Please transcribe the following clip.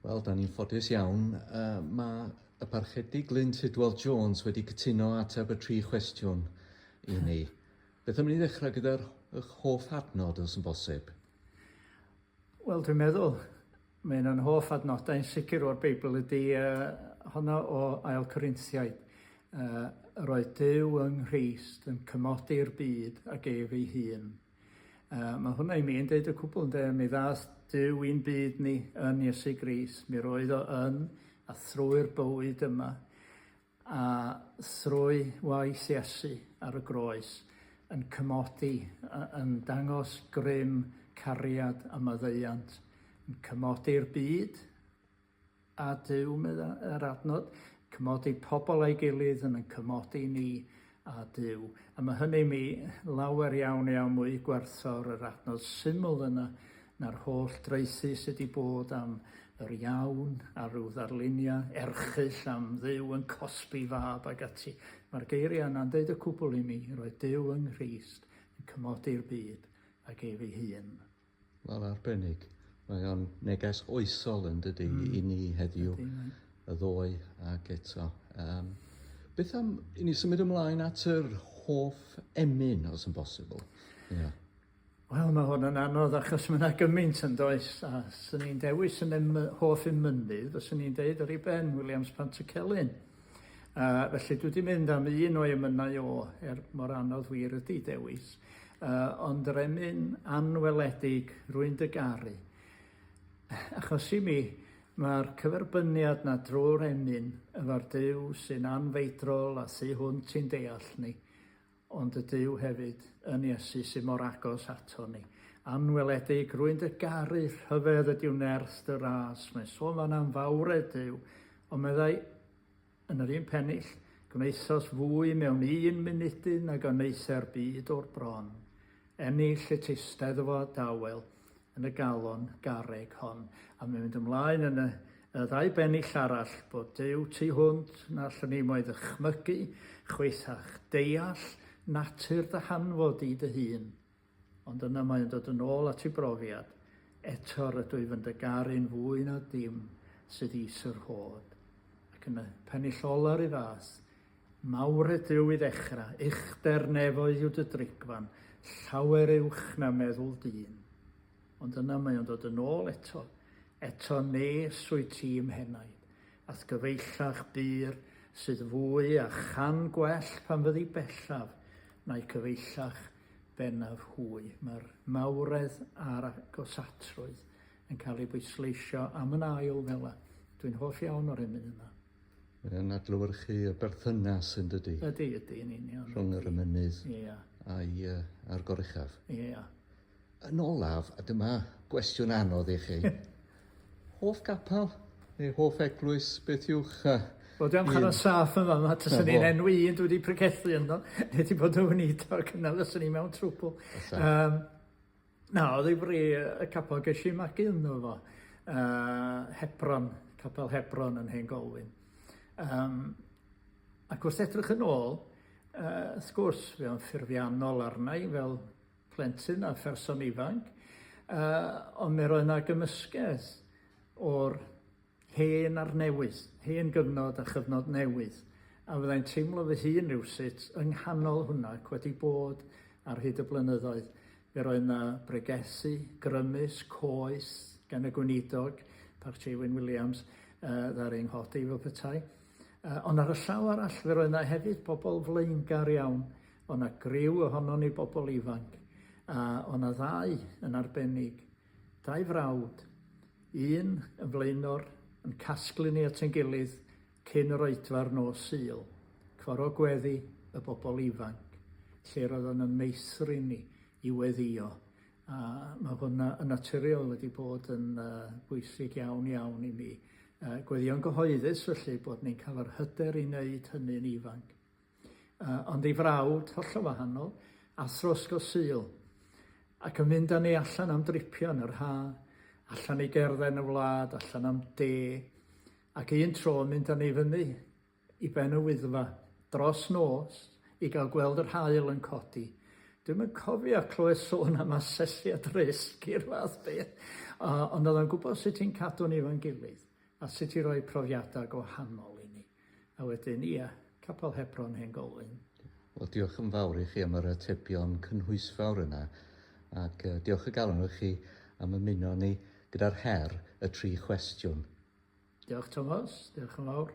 Wel, da ni'n ffodus iawn. Uh, mae y parchedig Glyn Tidwell Jones wedi cytuno ateb y tri chwestiwn i ni. Beth am ni ddechrau gyda'r hoff adnod, os yn bosib? Wel, dwi'n meddwl, mae un o'n hoff adnodau yn sicr o'r Beibl ydy uh, honno o Ail Corinthiaid. Uh, roedd Dyw yng Nghyst yn cymodi'r byd ag ef ei hun. Uh, mae hwnna i mi yn deud y cwbl ynde, mi ddath Dyw i'n byd ni yn Iesu Gris, mi roedd o yn a thrwy'r bywyd yma, a thrwy waith Iesu ar y groes, yn cymodi, yn dangos grym cariad a maddeiant, yn cymodi'r byd, A Duw, medda yr adnod, cymodi pobl a'i gilydd yn yn cymodi ni a Duw. A mae hynny mi lawer iawn iawn mwy gwerthfawr yr adnod syml yna na'r holl draethu sydd wedi bod am yr iawn a rhyw ddarluniau erchyll am Dduw yn cosbi fab ag ati. Mae'r geiriau yna'n deud y cwbl i mi, roedd Duw yng Nghrist yn cymodi'r byd ag ef ei hun. Wel, arbennig. Mae o'n neges oesol yn dydy mm. i ni heddiw, y ddoe ac eto. Um, beth am i ni symud ymlaen at yr hoff emyn, os yn bosibl? Yeah. Wel, mae hwn yn anodd achos mae yna gymaint yn does, a sy'n ni'n dewis yn em hoff emynydd, os ni'n deud yr i ben, Williams Pantycelyn. Uh, felly dwi wedi mynd am un o'i emynau o, er mor anodd wir ydy dewis, uh, ond yr emyn anweledig, rwy'n dy garu. Achos i mi, mae'r cyferbyniad na drwy'r emyn efo'r Dyw sy'n anfeidrol a sy hwnt i'n deall ni, ond y Duw hefyd, yn Iesu, sydd mor agos aton ni. Anweledig, rwy'n dy garu, rhyfedd ydyw nerth dy ras. Mae'n sôn fan am fawredd Duw, ond meddai yn yr un pennill, gwnaethos fwy mewn un munudydd nag a wnaetha'r byd o'r bron. Ennill y teisteddfod dawel yn y galon garreg hon. A mae'n mynd ymlaen yn y, y ddau bennill arall bod Duw tu hwnt na allwn ni mo'i ddychmygu, chwaethach, deall natur dy hanfod di dy hun. Ond yna mae yn dod yn ôl at ei brofiad, eto rydw i fy dy garu'n fwy na dim sydd is yr hod. Ac yn y pennill ola'r un fath, Mawr ydyw i ddechra, uchder nefoedd yw dy drigfan, llawer uwch na meddwl dyn. Ond yna mae o'n dod yn ôl eto, eto nes wyt ti i'm henaid, a'th gyfeillach bur sydd fwy a chan gwell pan fyddi bellaf na'i cyfeillach bennaf hwy. Mae'r mawredd a'r agosatrwydd yn cael ei bwysleisio am yn ail fela. Dwi'n hoff iawn o'r emyn yna. Mae o'n adlewyrchu y berthynas yn dydy? Ydy, ydy, yn union. Rhwng yr ymynydd yeah. a'i, uh, a'r gorechaf. Ie. Yeah. Yn olaf, a dyma gwestiwn anodd i chi. hoff gapel neu hoff eglwys, beth yw'ch... Uh, Wel, dwi'n cael yn saff yn fama, tas yn un enw un dwi wedi pregethu ynddo, neu wedi bod yn wnito, ac yna fes yn un mewn trwbl. Um, Na, ddifri y capel. Ges i magu ynddo fo. Uh, Hebron, capel Hebron yn Hen Golwyn. Um, ac wrth edrych yn ôl, uh, wrth gwrs, fe o'n ffurfiannol arna i fel plentyn a pherson ifanc, uh, ond mi roedd yna gymysgedd o'r Hen a'r newydd, hen gyfnod a chyfnod newydd, a fyddai'n teimlo fy hun rywsut yng nghanol hwnna ac wedi bod ar hyd y blynyddoedd. Fe roedd 'na bregethu, grymus, coes gan y Gweinidog, Parch Jay Wyn Williams, yy ddaru ei nghodi fel petai. Yy ond ar y llaw arall fe roedd 'na hefyd bobl flaengar iawn, o' 'na griw ohonon ni bobl ifanc, a o' 'na ddau yn arbennig, dau frawd, Un yn flaenor, yn casglu ni at ein gilydd cyn yr oedfa'r nos Sul, coro gweddi y bobl ifanc, lle roedd o'n yn meithrin ni i weddïo, a mae hwnna yn naturiol wedi bod yn bwysig iawn iawn i mi. Gweddïo'n gyhoeddus felly bod ni'n cael yr hyder i wneud hynny'n ifanc. Yy, ond ei frawd, hollol wahanol, athro ysgol Sul, ac yn mynd â ni allan am dripio yn yr ha', allan i gerdded yn y wlad, allan am de, ac un tro yn mynd â ni fyny i ben y Wyddfa, dros nos, i gael gweld yr haul yn codi. Dwi'm yn cofio clywed sôn am asesiad risg i'r fath beth, yy, ond o'dd o'n gwbod sut i'n cadw ni efo'n gilydd, a sut i roi profiada' gwahanol i ni. A wedyn, ia, Capel Hebron Hen Golwyn. Wel, diolch yn fawr i chi am yr atebion cynhwysfawr yna, ac uh, diolch y galon i chi am ymuno ni gyda'r her y tri chwestiwn. Diolch Thomas, diolch yn fawr.